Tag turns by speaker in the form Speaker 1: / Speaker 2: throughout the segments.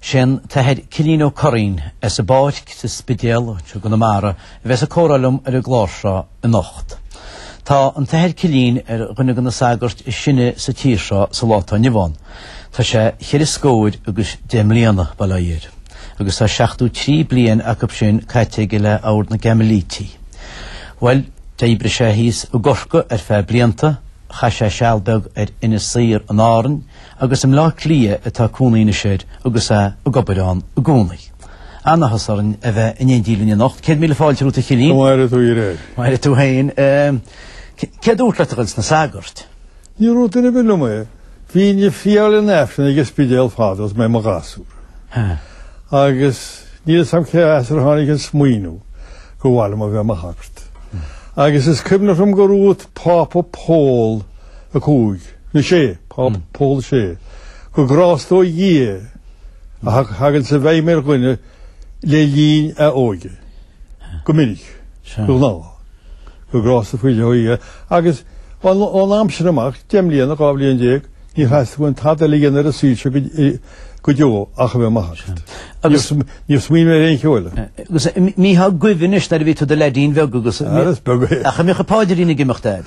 Speaker 1: Sé an tAthair Cillín Ó Curraoin as an bPáirc sa Spidéal i gConamara a bheas ag comhrá liom ar an gclár seo anocht. Tá an tAthair Cillín ar dhuine de na sagairt is sine sa tír seo sa lá atá inniu ann. Tá sé cheithre scóir agus deich mbliana, bail ó Dhia air, agus tá seachtó trí bliain acu sin caite aige le Ord na gCaimilítigh. Bhuel, d'oibrigh sé thíos i gCorcaigh ar feadh blianta, chaith sé seal beag ar Inis Oírr in Árainn, Agus i mBleá Cliath atá cónaí anois air agus é ag obair ann i gcónaí. An-áthas orainn a bheith in éindí linn anocht. Céad míle fáilte romhat a Chillín. Maire tú air air.
Speaker 2: Maire tú féin.
Speaker 1: Cé a dúirt leat a ghoil sna sagairt? Níor dhúirt duine
Speaker 2: ar bith liom é. Bhínn ag friotháil an Aifrinn ag an Spidéal fadó is mé i mo ghasúr. Agus níl fhios a'm cé as ar tháinig an smaoineamh go mba mhaith liom a bheith i mo shagart. Agus is cuimhneach liom gur dhúirt Pápa Pól a Cúig, nó Sé, Pápa Pól a Sé. Gur grásta ó Dhia a thagann sa bhfeidhm ar dhuine le linn a óige. Go minic. De ghnáth. Gur grásta faoi leith ó Dhia. Agus ón am sin amach, deich mbliana, dhá bhliain déag, ní theastaigh uaim tada eile a dhéanamh ar an saol seo go deo ach a bheith i mo shagart. Agus. Níor smaoinigh mé ar aon cheo eile. Agus mbíteá
Speaker 1: ag guibhe anois nuair a bhí tú i do leaidín beag agus. Ara is beag é. Ach a
Speaker 2: mbeadh an paidrín ag
Speaker 1: imeacht, Daid.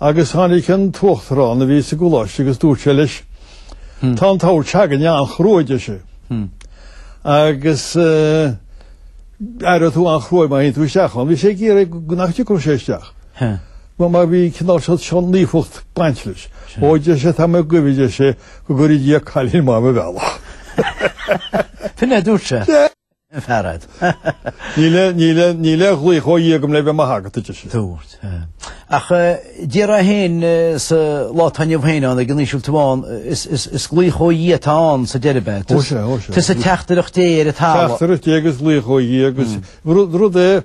Speaker 2: Agus tháinig an tUachtarán a bhí sa gColáiste agus dúirt sé leis, Tá an tOrd seo againne an-chruaidh, deir sé, agus aireoidh tú an-chruaidh é má théann tú isteach ann. Bhí sé ag iarraidh go nach dtiocfadh sé isteach. Mar bhí cineál seo seo naofacht ag baint leis. Ó, deir sé, tá mé ag guibhe, deir sé, go gcuire Dia cailín maith i mo bhealach.
Speaker 1: Sin é a dúirt sé?
Speaker 2: Níl aon ghlaoch ó Dhia agam le bheith i mo shagart, a deir sé. Dúirt.
Speaker 1: Ach déarfainn féin sa lá atá inniu féin ann ag an Ísiltír amháin, is glaoch ó Dhia atá ann sa deireadh beth. Tá sé, tá sé. Tá sé
Speaker 2: teachtaireacht
Speaker 1: Dé ar an talamh. Teachtaireacht Dé agus
Speaker 2: glaoch ó Dhia agus rud é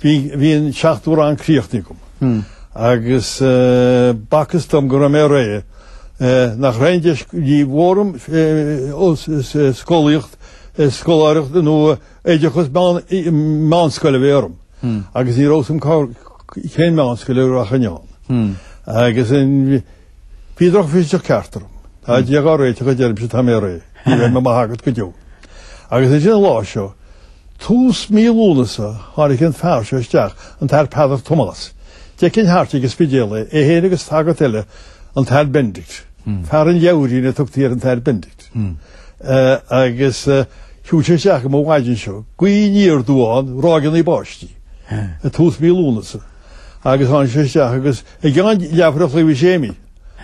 Speaker 2: Bhí an seachtú rang críochnaithe agam agus b'fhacthas dom go raibh mé réidh nach raibh aon deis níor mhór dhom scolaíocht, scoláireacht nó oideachas meánscoile a bheith orm agus ní raibh a fhios a'm cén meánscoil a rachainn ann. Agus Bhí drochmhisneach ceart orm. Tá Dia dhá réiteach a deirimse tá mé réidh. Ní bheidh mé i mo shagart go deo. Agus ansin an lá seo, tús mí Lúnasa, tháinig an fear seo isteach, an tAthair Peadar Tomás. D'fheicinn thart ag an Spidéal é, é fhéin agus sagart eile, an tAthair Benedict. Fear an leabhairín a tugtaí ar an tAthair Benedict. Agus shiúil sé isteach an mhaidin seo, gaoth aniar aduaidh ann, ráigeannaí báistí, ag tús mhí Lúnasa. Agus tháinig sé isteach agus I gceann leathuair an chloig bhí Séimí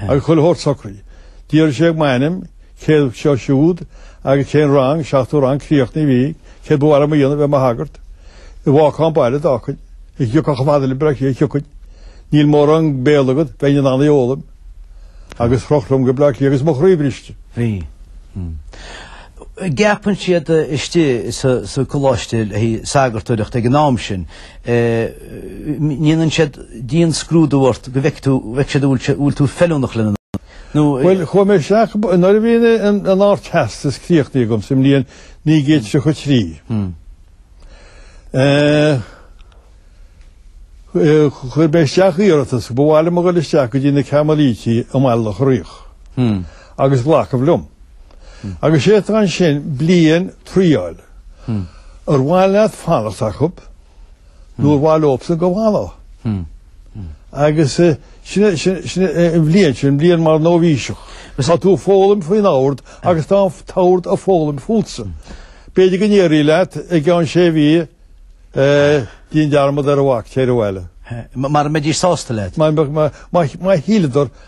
Speaker 2: agus chuile shórt socraithe. D'fhiafraigh sé m'ainm, céard seo siúd agus cén rang, seachtú rang críochnaithe a bhí, céard ba mhaith liom a dhéanamh bheith mo shagart, an bhfágfainn an baile d'fhágfainn, an dtiocfainn chomh fada le Bleá Cliath thiocfainn, níl mórán Béarla agat, bheinn in ann é a fhoghlaim. Agus chroch liom go Bleá Cliath agus mo chroí briste.
Speaker 1: Bhí. Ceapann siad istigh sa gcoláiste le haghaidh sagartóireachta ag an am sin. ndéanann siad dian-scrúdú ort go bhfeice tú, bhfeice siad an bhfuil tú feiliúnach lena nó. Bhuel, chuaigh
Speaker 2: mé isteach, nuair a bhí an Ardteastas críochnaithe agam sa mbliain 1933, chuir mé isteach iarratas, ba mhaith liom a dhul isteach go dtí na Cairmilítigh i mBaile Locha Riach agus glacadh liom. Agus sé atá ansin bliain triáil. Ar mhaith leat fanacht acu nó ar mhaith leosan go bhfanfá? Agus sin an bhliain sin, an bhliain mar nóibhíseach. Tá tú ag foghlaim faoin ord agus tá an t-ord ag foghlaim fútsa. B'fhéidir go ndéarfaí leat i gceann sé mhí déan dearmad air, ná bac, téirigh abhaile. Mara mbeidís
Speaker 1: sásta leat. Má
Speaker 2: shíleadar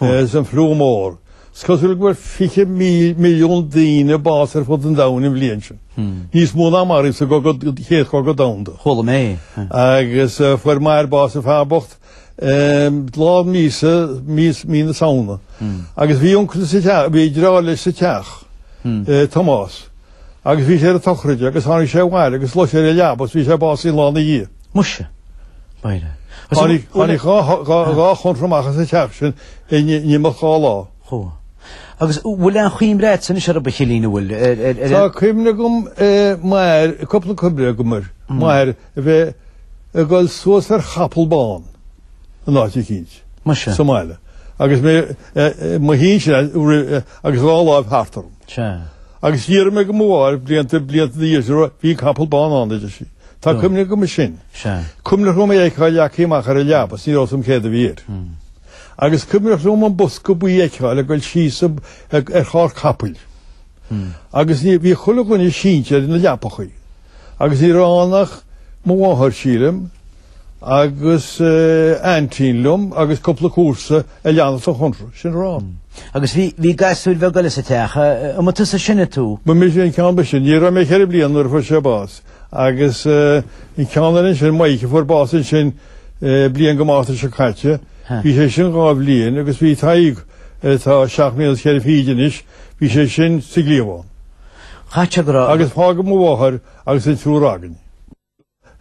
Speaker 2: is an fliú mór. Is cosúil go bhfuair fiche milliún duine bás ar fud an domhain an bhliain sin. Níos mó ná a maraíodh sa Chéad Chogadh Domhanda. Chuala mé. Agus fuair m'athair bás an fear bocht lá míosa, mí na Samhna. Agus bhí uncail, bhí deartháir leis sa teach, Tomás, Agus bhí sé ar an tsochraide agus tháinig sé abhaile agus luigh sé ar an leaba agus bhí sé básaithe lá ina dhiaidh.
Speaker 1: Muise. Maire.
Speaker 2: Tháinig dhá chónra amach as an teach sin in imeacht dhá lá.
Speaker 1: Chuaigh. Agus bhfuil aon chuimhne agat anois ar an bPicilín a bhfuil ar ar ar. Tá
Speaker 2: cuimhne agam air, cúpla cuimhne agam air, mar a bheith ag dul suas ar chapall bán. in áit eicínt. Muise. sa
Speaker 1: mbaile.
Speaker 2: Agus mé i mo shuí ansin agus a dhá láimh thart orm. Sea. Agus d'fhiafraigh mé de mo mháthair blianta, blianta ina dhiaidh sin, bhí capall bán ann, a deir sí. Tá cuimhne agam air sin. Sea. Cuimhneach liom é a fheiceáil leagtha amach ar an leaba, is ní raibh a fhios agam céard a bhí air. Agus cuimhneach liom an bosca buí a fheiceáil ag dul síos ar charr capaill. Agus bhí chuile dhuine sínte ar na leapachaí. Agus ní raibh ann ach mo mháthair, sílim, agus aintín liom agus cúpla comharsa a lean an chónra, sin a raibh. Agus
Speaker 1: bhí gasúir bheaga eile sa teach an tusa is sine, an tú. Ba mise an ceann ba shine.
Speaker 2: Ní raibh mé ceithre bliana nuair a fuair sé bás agus an ceann eile ansin, Maidhc, a fuair bás ansin bliain go Márta seo caite. Bhí sé sin dhá bhliain agus bhí Tadhg, atá seacht mbliana is ceithre fichid anois, bhí sé sin sa gcliabhán. Chaith sé
Speaker 1: go raibh. Agus fágadh mo mháthair
Speaker 2: agus an triúr againn.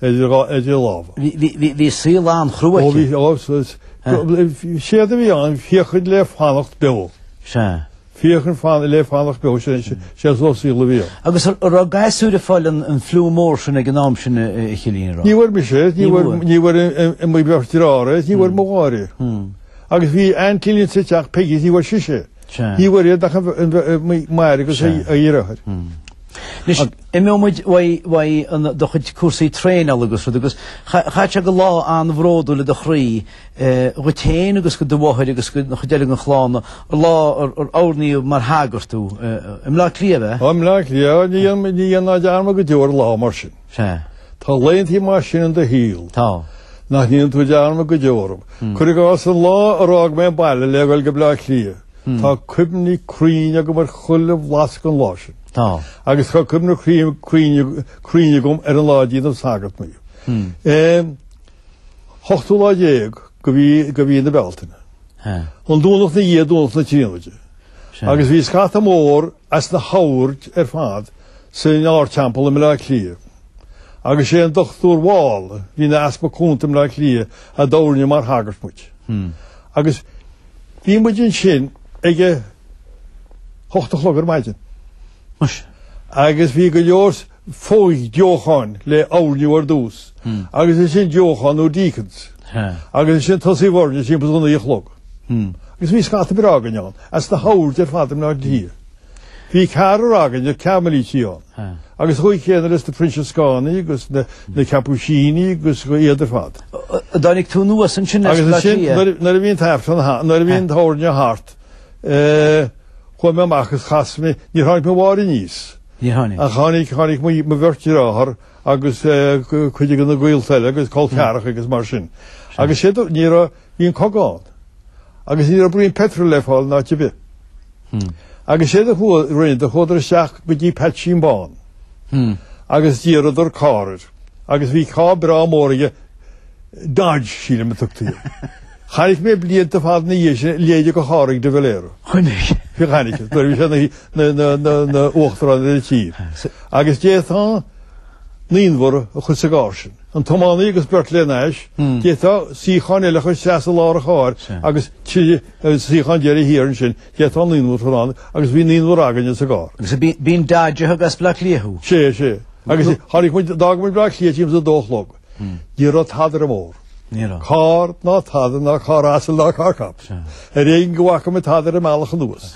Speaker 2: idir dhá idir lámha. Bhí
Speaker 1: saol an-chrua aici. Ó bhí,
Speaker 2: ó, séard a bhí ann, féachaint le fanacht beo. Sea. Féachaint le fanacht beo, sé an saol a bhí ann. Agus an raibh
Speaker 1: gasúir ag fáil an fliú mór sin ag an am sin a Chillín, an raibh. Ní bhfuair mise é, ní
Speaker 2: bhfuair, ní bhfuair mo bheirt deartháir é, ní bhfuair mo mháthair é. Agus bhí aintín linn sa teach Peigí, ní bhfuair sise é. Ní bhfuair iad ach m'athair agus a dheartháir.
Speaker 1: Anois, imeoidh muid uaidh do chuid cúrsaí traenála agus rud agus chaithfeadh sé gur lá an-bhródúil le do chroí, dhuit féin agus go do mháthair agus don chuid eile den chlann, an lá ar hoirníodh mar shagart thú, i mBleá Cliath, ab ea? Ó, i mBleá Cliath,
Speaker 2: ní dhéanfaidh mé dearmad go deo ar lá mar sin. Sea. Tá laethantí mar sin in do shaol. Tá.
Speaker 1: Nach ndéanann
Speaker 2: tú dearmad go deo orthu. Cuir i gcás an lá ar fhág mé an baile le ghoil go Bleá Cliath. Tá cuimhní cruinn agam ar chuile bhlas den lá sin. Tá. Agus tá cuimhní cruinn cruinn agam ar an lá a déanadh sagart dhíom. Eh. hochtú lá déag de mhí de mhí na Bealtaine. Sea. An Domhnach na dhiaidh Domhnach na Tríonóide. Sea. Agus bhí scata mór as na hoird ar fad. san ardteampall i mBleá Cliath. Agus sé an Dr Wall a bhí ina easpag cúnta i mBleá Cliath a d'oirnigh mar shagairt muid. Agus bhí muid ansin ag a hocht a chlog ar maidin. Muis. Agus bhí go leor fo-dheocháin le hoirniú ar dtús. Agus ansin deocháin nó deacons. Agus ansin tosaíodh ag oirniú timpeall naoi a chlog. Agus bhí scata breá againn ann as na hoird ar fad i mBleá Cliath. Bhí ceathrar againne Cairmilítigh ann agus an chaoi chéanna leis na Proinsiascánaigh agus na Caipisínigh agus iad ar fad. Tháinig tú anuas
Speaker 1: ansin leis an lá ina dhiaidh? Agus nuair a bhí
Speaker 2: an t-aifreann thart, nuair a bhí an t-oirniú thart, chuaigh mé amach agus chas mé, níor tháinig mo mháthair aníos. Níor tháinig. Ach tháinig mo bheirt deartháir agus cuid de na gaolta eile agus col ceathracha agus mar sin. Agus séard a, ní raibh, Bhí an cogadh ann agus ní raibh braon peitril le fáil in áit ar bith. Agus séard a rinneadar, chuadar isteach go dtí Peaitsín Bán agus d'iarradar carr air agus bhí carr breá mór aige Dodge sílim a tugtaí air. Chonaic mé blianta fada ina dhiaidh sin a leithéide de charr ag de Valera. Chonaic?
Speaker 1: Bhí chonaic nuair a
Speaker 2: bhí sé ina uachtarán ar an tír. Agus d'fhéadfá naonúr a chur sa gcarr sin. an tiománaí agus beirt lena ais, d'fhéadfá suíochán eile a chur isteach sa lár an chairr agus trí suíochán deiridh thiar ansin, d'fhéadfá naonúr a chur ann agus bhí naonúr againne sa gcarr. Agus b'in
Speaker 1: Dodge a thug
Speaker 2: as Bleá Cliath thú?
Speaker 1: Sea,
Speaker 2: sea. Agus tháinig muid,
Speaker 1: d'fhág muid
Speaker 2: Bleá Cliath timpeall a dó
Speaker 1: a
Speaker 2: chlog. Ní raibh tada ar an mbóthar. Ní raibh. Carr
Speaker 1: ná
Speaker 2: tada, ná carr asail ná carr capaill. Ar éigin go bhfaca muid tada ar an mbealach anuas.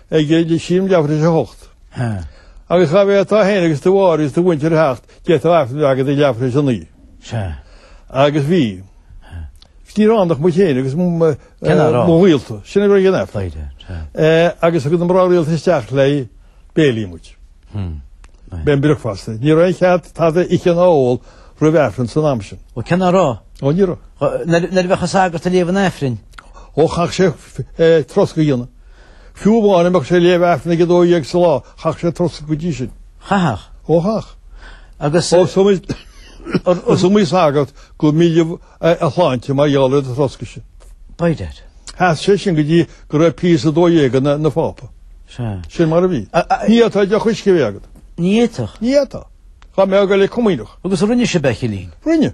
Speaker 2: ag éirí Sílim ag ceathrú chun a 6. Agus chaithfeá tú féin agus do mháthair agus do mhuintir 7 d'fhéadfadh aifreann a bheith agat ag ceathrú chun a 9. Agus bhí. Ní raibh ann ach muid féin agus mná rialta. Sin a bhí ag an aifreann. Agus thug na mná rialta isteach le béile muid. B'in bricfeasta. Ní raibh aon chead tada a ithe ná ól roimh aifreann san am sin. Bhuel an ea nach
Speaker 1: raibh? Ó ní raibh.
Speaker 2: Nuair a bheadh
Speaker 1: sagart ag léamh an aifrinn. Ó chaithfeadh
Speaker 2: sé troscadh a dhéanamh. Fiú amháin dá mbeadh sé ag léamh Aifrinn ag a dó dhéag sa lá, chaithfeadh sé troscadh go dtí sin. Chaithfeadh?
Speaker 1: Ó
Speaker 2: chaithfeadh. Agus. Ó, is iomaí sagart gur milleadh a shláinte mar gheall ar an troscadh sin.
Speaker 1: B'fhéidir. Sheas sé
Speaker 2: sin go dtí go raibh Píus a dó dhéag ina Phápa. Sea. Sin mar a bhí. Ní fhéadfá deoch uisce a bheith agat. Ní fhéadfadh? Ní
Speaker 1: fhéadfá.
Speaker 2: Chuaigh mé ag an gComaoineach. Agus rinne sibh é a chillín?
Speaker 1: Rinne.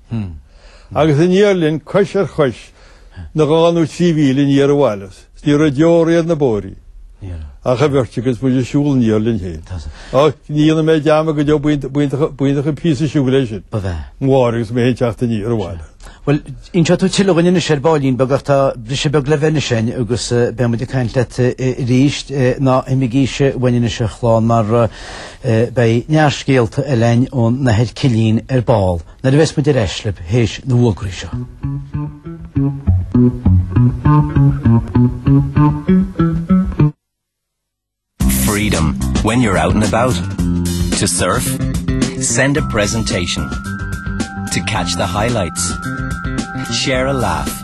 Speaker 2: Agus an deirfiúr linn cos ar chois ina dhá nó trí mhíle aniar abhaile is ní raibh deoraí ar na bóithrí ach an bheirt agus muid ag siúl aniar linn féin. Ach ní dhéanfaidh mé dearmad go deo muintir an píosa siúil sin mo mháthair agus mé féin ag teacht aniar abhaile. Bhuel,
Speaker 1: inseoidh tú tuilleadh dhúinn anois ar baillín beag ach tá briseadh beag le bheith ansin agus beimid ag caint leat arís. Ná imigís, uainn anois a chlann mar. Beidh neart scéalta againn ón nAthair Cillín ar ball nuair a bheas muid ar ais libh théis na bhfógraí seo.
Speaker 3: Freedom when you're out and about. To surf, send a presentation. To catch the highlights. Share a laugh.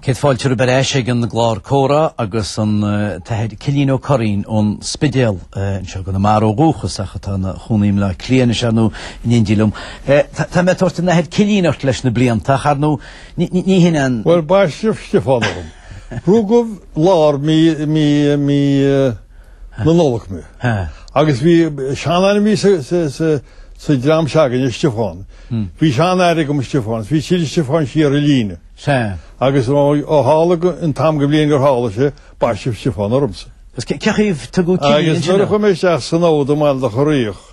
Speaker 1: Céad fáilte romhaibh ar ais ag an gclár comhrá agus an tAthair Cillín Ó Curraoin ón Spidéal. Anseo i gConamara ó dhúchas ach atá ina chónaí i mBleá Cliath anois ar ndóigh, in éindí liom. Tá mé ag tabhairt an tAthair Cillín ort leis na blianta ach ar ndóigh ní hin an. Bhuel, baisteadh
Speaker 2: Stiofán orm. Rugadh lár mí, mí, mí. na Nollag mé. Agus bhí seanainmneacha sa dream s'againne Stiofán. Bhí seanathair agam Stiofán agus bhí siad Stiofán siar an líne. Agus ó tharla an t-am de bhliain gur tharla sé baisteadh Stiofán ormsa. Agus cé chaoi ar
Speaker 1: tugadh Cillín? Agus nuair a chuaigh mé
Speaker 2: isteach san ord i mBaile Locha Riach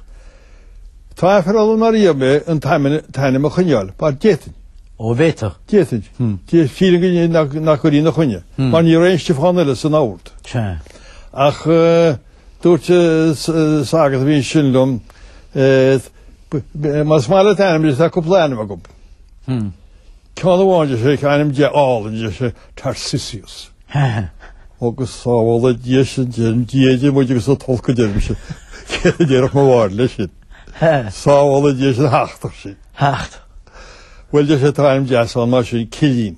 Speaker 2: tá aiféala orm nár iarr mé an t-ainm a choinneáil mar d'fhéadfainn. Ó an bhféadfá.
Speaker 1: D'fhéadfainn.
Speaker 2: Sílim nach gcuirfí ina choinne. Mar ní raibh aon Stiofán eile san ord. Ach dúirt sagart a bhí ansin liom, Más maith leat ainm, tá cúpla ainm agam. Ceann amháin a deir sé, ainm deas álainn a deir sé, Tarsisius. Agus sábhála Dia sinn Dia idir muid agus an t-olc deirimse. Céard a déarfadh mo mháthair leis sin? Sábhála Dia sinn thachtfadh sin. Bhuel,
Speaker 1: a
Speaker 2: deir sé, tá ainm deas ann mar sin, Cillín.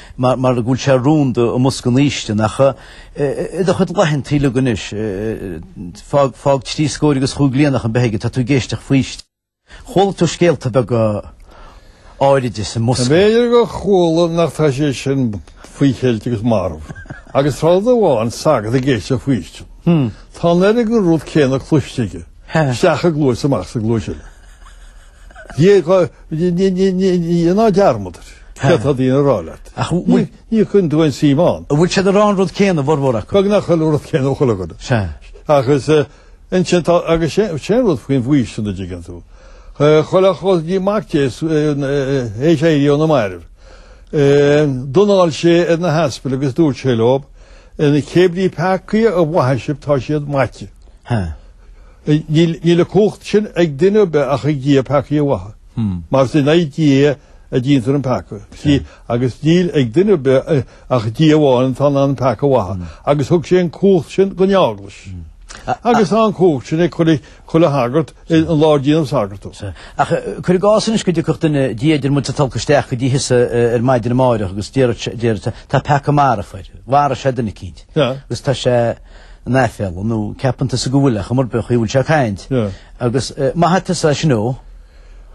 Speaker 1: mar go bhfuil sé rúnda i mbosca an fhaoistin ach i do chuid laethanta uilig anois, fág, fág trí scóir agus chúig bliana nach beag atá tú ag éisteacht faoistin, chuala tú scéalta beaga áiride sa mbosca. B'fhéidir gur
Speaker 2: chuala ach tá sé sin faoi cheilt agus marbh agus tá rud amháin sagart ag éisteacht faoistin, tá an oiread den rud céanna cloiste aige, isteach sa gcluais is amach sa gcluais eile. Déanann tú dearmad ar céard tá daoine ag rá leat. Ach bhfuil. Ní chuireann tú aon suim ann. Bhfuil siad ag rá
Speaker 1: an rud céanna a bhformhór acu? Beagnach an rud céanna
Speaker 2: ag chuile dhuine. Sea. Agus ansin tá, agus sé an rud faoin bhfaoistin an dtuigeann tú. Chuile chos ní mac Dé théis éirí óna mairbh. D'anáil sé ar na haspail agus dúirt sé leo, 'Cébrí peacaí a mhaithfidh sibh tá siad maite. Níl an cumhacht sin ag duine ar bith ach ag Dia peacaí a mhaitheamh, mar is in aghaidh Dia a déantar an peaca, you see, agus níl ag duine ar bith ach Dia amháin atá in ann an peaca a mhaitheamh, agus thug sé an cumhacht sin don Eaglais. Agus tá an cumhacht sin ag chuile shagart, an lá ar déanadh sagart dhó. Ach cuir
Speaker 1: i gcás anois go dtiocfadh duine, Dia idir muid is an t-olc, isteach go dtí thusa ar maidin amáireach agus déarfadh sé, tá peaca marbh air, mharaigh sé duine eicínt, agus tá sé, in aiféala nó ceapann tusa go bhfuil ar chuma ar bith an chaoi a bhfuil sé ag caint agus maithfidh tusa é sin dhó.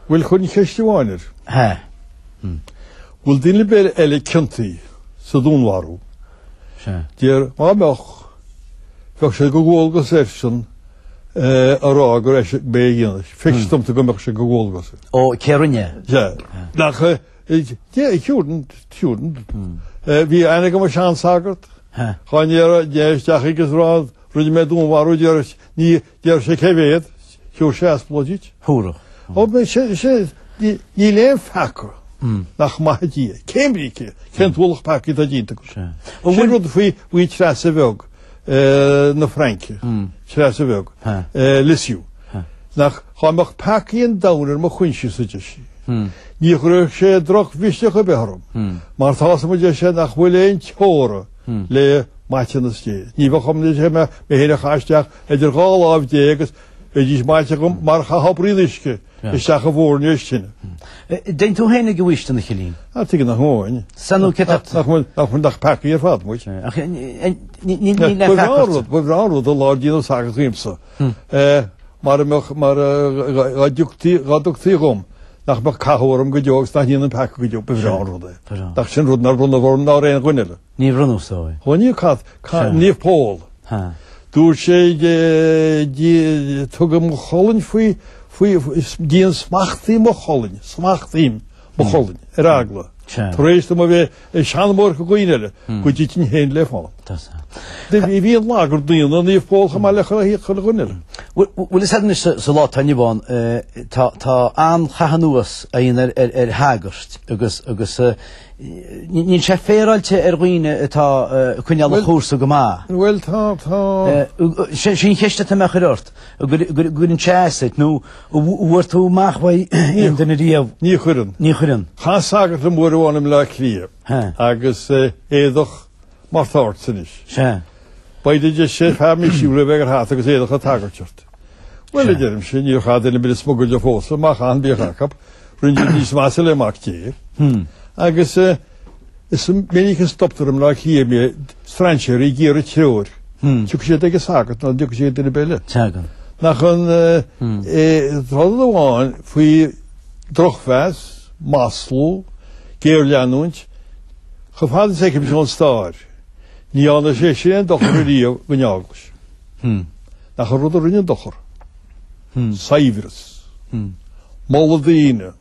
Speaker 1: Bhuel
Speaker 2: chuirfinn ceist amháin air. Hea. Bhfuil duine ar bith eile ciontaithe sa dúnmharú. Sea. Dear má mbeadh bheadh sé de dhualgas airsean a rá gurb eisean a bhí á dhéanamh. Feictear domsa go mbeadh sé de dhualgas. Ó cé rinne
Speaker 1: é? Sea. Nach.
Speaker 2: Bhí aithne agam ar sheansagart. Dhá dtéiteá isteach aige is rinne mé dúnmharú Déarfadh sé cé mhéad, thiúrfadh sé aspalóid duit. Níl aon pheaca nach maithfidh Dia. Cébrí cén t-ualach peacaí atá déanta agat? Sin rud faoi Treasa Bheag. na Fraince, Treasa Bheag, Lisieux, nach dhá mbeadh peacaí an domhain ar mo choinsias, a deir sí, ní chuirfeadh sé drochmhisneach ar bith orm, mar tá a fhios agam, a deir sé, nach bhfuil aon teora le maiteanas Dé. Ní bheadh orm, a deir sé, ach mé féin a chaitheamh isteach idir dhá láimh Dé agus bheidís maite agam mar chaithfeá braon uisce Isteach i bhfoirnéis tine. Dtéann
Speaker 1: tú féin ag an bhfaoistin, a Choilín? Ah, tuige nach
Speaker 2: ngabhfainn. San nó cé tá? Nach
Speaker 1: bhfuil, nach bhfuil, nach
Speaker 2: peacaigh ar fad, muid. Ach níl, níl aon pheaca ortsa. Ba bhreá an rud an lá a déanadh sagart dhíomsa. Mara mbeadh, mara, dhá dtugtaí, dhá dtugtaí dhom, nach mbeadh cathú orm go deo agus nach ndéanfainn peaca go deo, ba bhreá an rud é. Nach sin rud nár bronnadh orm ná ar aon dhuine eile. Níor bronnadh so
Speaker 1: é. Ó ní cad.
Speaker 2: Ca, Naomh Pól. Ha. Dúirt sé dí, tugaim mo cholainn faoi, faoi, diansmachtaím mo cholainn, smachtaím mo cholainn, ar eagla, Sea. tar éis dom a bheith ag seanmóireacht do dhaoine eile, go dtitfinn féin le fána. Tá so. Bhí, bhí, bhí an lagar daonna, Naomh Pól, chomh maith le chuile dhuine eile. Bhuel, bhuel is ar
Speaker 1: anois sa, sa lá atá inniu ann, eh, tá, tá an-chaitheamh anuas á dhéanamh ar, ar, ar shagairt agus, agus, eh, Níl sé féaráilte ar dhaoine atá ag coinneáil an chúrsa go maith. Bhuel tá, tá. Sin an cheist atá mé a chur ort, an gcuireann sé as duit nó an bhfuair tú amach faoi aon duine riamh. Ní chuireann. Ní chuireann.
Speaker 2: Chas sagart liom uair amháin i mBleá Cliath agus éadach. mar atá ortsa anois. Sea. By dad, deir sé, fear misniúil le bheith ag dul thart agus éadach an tsagairt ort. Bhuel, a deirimse, níor chaith duine ar bith smugairle fós orm, má chaitheann bíodh acu rinneadh rud níos measa le Mac Dé. Agus is minic a stoptar i mBleá Cliath mé strainséirí ag iarraidh treoir. Tiocfaidh siad ag an sagart ná dtiocfaidh siad ag duine ar bith eile. Tagann. Nach an rud amháin faoi drochmheas, maslú, géarleanúint, Chomh fada is a fheicimse ón stair, ní dhearna sé sin aon dochar ariamh don Eaglais. Nach an rud a rinne dochar? Saibhreas. Moladh daoine.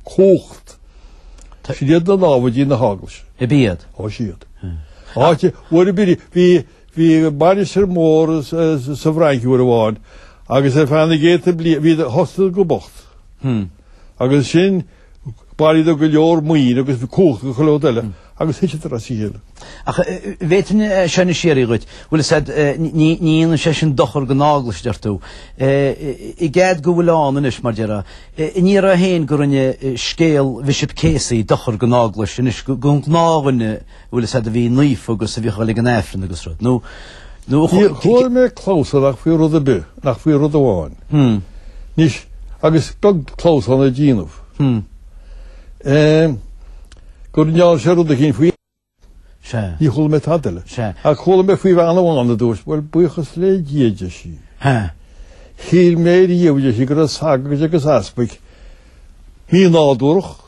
Speaker 2: Cumhacht. Sin iad na námhaidí na hEaglais. Ab iad?
Speaker 1: Ó
Speaker 2: siad. Áit mhór ab iad. Bhí, bhí mainistir mhór sa bhFrainc uair amháin agus ar feadh na gcéadta bliain bhí, thosaíodar go bocht. Agus ansin. Bhailíodar go leor maoin agus cumhacht agus chuile rud eile agus thiteadar as a chéile. Ach
Speaker 1: an bhféadfainn seo anois a fhiafraí dhíot, bhfuil a fhios agat, ní dhéanann sé sin dochar don Eaglais, deir tú. I gcead go bhfuil ann anois, mar déarfá, in Ní raibh féin go rinne scéal Bhishop Casey dochar don Eaglais, anois, don ghnáthdhuine, bhfuil a fhios agat a bhí naofa agus a bhíodh ag dul ag an Aifreann agus rud. Nó, nó a.
Speaker 2: Níor chuala mé clamhsán ach faoi rud ar bith, nach faoi rud amháin. Anois, agus beag clamhsán a déanadh, go ndearna sé rud éicínt faoi. Sea. Ní chuala mé tada eile. Sea. Ach chuala mé faoi bhean amháin a dúirt, Bhuel, buíochas le Dia, deir sí. Sea. Shíl mé riamh, deir sí, go raibh sagairt agus easpaig mí-nádúrach.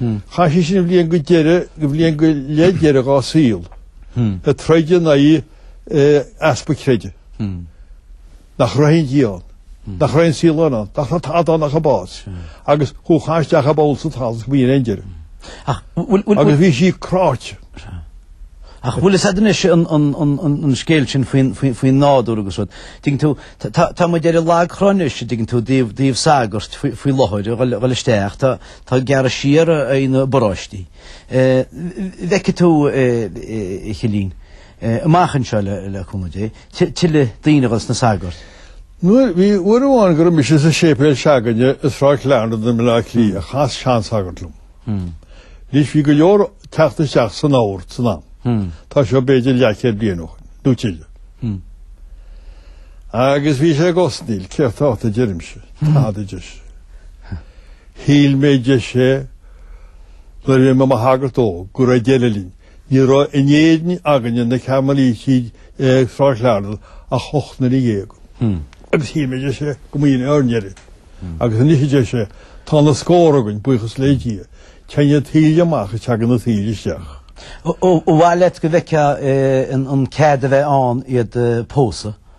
Speaker 2: Chaith sí sin an bhliain go deireadh, an bhliain go leith deiridh dhá saol, ag troid in aghaidh easpa creidimh. Nach raibh aon Dia ann? Nach raibh aon saol ann? Nach raibh tada ann ach an bás? Agus ghabhfá isteach i bpoll sa talamh agus b'in é an deireadh. Agus bhí sí
Speaker 1: cráite. Ach bhfuil fhios a'd anois an scéal sin faoin nádúr agus rud. Tuigeann tú, tá muid ar an lag trá anois, tuigeann tú, i dtaobh sagairt faoi láthair a dhul isteach, Tá gearradh siar ar na bparóistí. Feicfidh tú, a Chillín, amach anseo, le cúnamh Dé, tuilleadh daoine a dhul sna sagairt. Nuair bhí
Speaker 2: uair amháin go raibh mise sa séipéal se'againne i Sráid Clarendon i mBaile Átha Cliath, hmm. chas seansagart liom. Hmm. Anois bhí go leor ag teacht isteach san ord san am. Hmm. Tá seo b'fhéidir leathchéad bliain ó shin, nó tuilleadh. Agus bhí sé ag osnaíl, céard atá ort a deirimse, tada a deir sé. Shíl mé a deir sé nuair a bhí mé i mo shagart óg go raibh deireadh linn. Ní raibh in Éirinn againne na Carmelítigh ag Sráid Clarendon ach ocht nduine dhéag. Agus shíl mé a deir sé go mba shin é ár ndeireadh. Agus anois a deir sé, tá na scórtha againn, buíochas le Dia. Téann an taoille amach is teagann an taoille isteach. Ó, ba mhaith
Speaker 1: leat go bhfeicfeá an cead a bheith ann iad pósadh.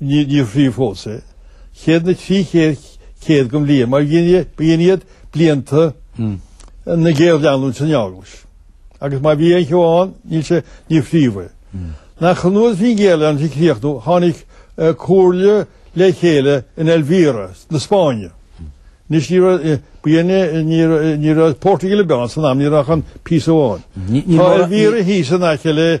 Speaker 2: Níor fríothadh fós é. Chéad na trí chéad bliain mar b'in iad blianta na géarleanúint san Eaglais. Agus má bhí aon cheo ann níl sé níor fríothadh é. Ach nuair a bhí an ghéarleanúint ag críochnú tháinig comhairle le chéile in Elvira na Spáinne. Anois ní raibh ba dhéine ní raibh Portugal ar bith ann san am ní raibh ach an píosa amháin. Tá Elvira thíos in aice le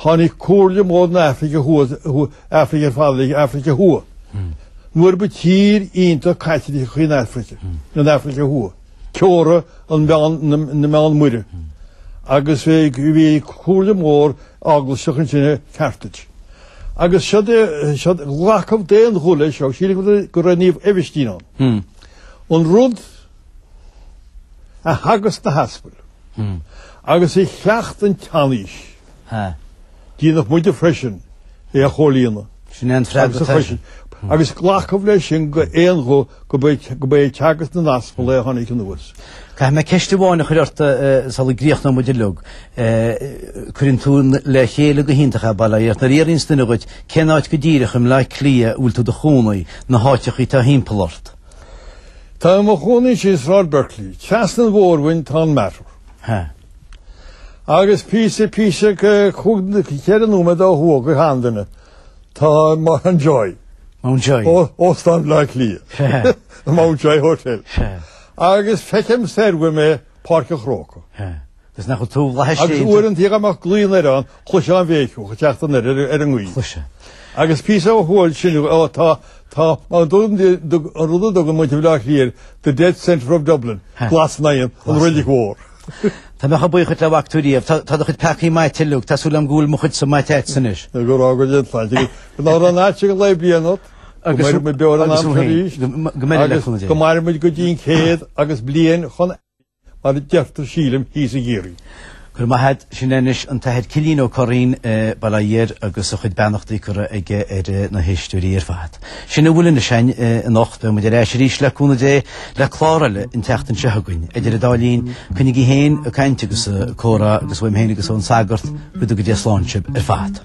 Speaker 2: Tháinig comhairle mhór na hAfraice Thuaidh, Afraice ar fad le Afraice Thuaidh. Mar ba tír iontach Caitliceach í an Afraice, an Afraice Thuaidh, teorainn an mheán, na Meánmhara, agus bhí comhairle mhór eaglaiseach ansin i Carthage. Agus seo de, seo, glacadh d'aon ghuth leis seo, sílim go raibh Naomh Aibhistín ann. An rud. a theagasc na haspail agus a chleacht an tseanaois. Déanadh muide freisin é a chomhlíonadh. Sin é an freagra
Speaker 1: agus a chloiseann agus
Speaker 2: glacadh leis sin d'aon ghuth go mba é teagasc na n-aspal é a tháinig anuas. Caithfidh mé
Speaker 1: ceist amháin a chur ortsa sula gcríochnóidh muid uiliog. Cuireann tú le chéile go hiontach é, bail ó Dhia ort. Nuair a fhiafraíonns duine dhíot cén áit go díreach i mBleá Cliath a bhfuil tú i do chónaí, na háiteacha atá timpeall ort,
Speaker 2: Tá mé i mo chónaí ansin i Sráid Berkeley. Trasna an bhóthair uaim tá an Mater. Ha. Agus píosa, píosa, chúig, ceithre nóiméad ó thuaidh go handuine tá Mountjoy. Mountjoy.
Speaker 1: Ó, Óstán
Speaker 2: Bhleá Cliath. Mountjoy Hotel. Agus feicim soir uaim Páirc an Chrócaigh. Is nach bhfuil
Speaker 1: tú fhlaithis Agus déanta. uaireanta dhíogh
Speaker 2: amach glaoín ar an chloisfeá an bhéiceadh ag teacht anoir ar ar an ngaoith. Chloisfeá.
Speaker 1: Agus
Speaker 2: píosa ó thuaidh sin ó tá tá mar an dtugann di do an rud a dtugann muid i mBleá Cliath the dead centre of Dublin, Ha. Glas Naíon, an Glas an Reilig Mhór. Tá mé
Speaker 1: chomh buíoch duit le bhfaca tú riamh. Tá tá do chuid peacaí maite uilig. Tá súil agam go bhfuil mo chuidsa maite agat anois. Nó go bhfága Dia an tsláinte.
Speaker 2: Go raibh an áit ag an lae bliain ort. Go Agus mairimid beo ar an agus am thú seo féin. arís. Go go mbeidh le Agus leithcheal go dé. mairimid go dtí an chéad agus bliain chun Mar a deirtear sílim thíos i gCiarraí. Go raibh maith
Speaker 1: agat, sin é anois an tAthair Cillín Ó Curraoin, bail ó Dhia air agus a chuid beannachtaí curtha aige ar na héisteoirí ar fad. Sin a bhfuil anois againn anocht. Beidh muid ar ais arís le cúnamh Dé le clár eile an tseachtain seo chugainn. Idir an dá linn, coinnígí féin, ag caint agus ag comhrá agus uaim féin agus ón Sagart, go dtuga Dia slán sibh ar fad.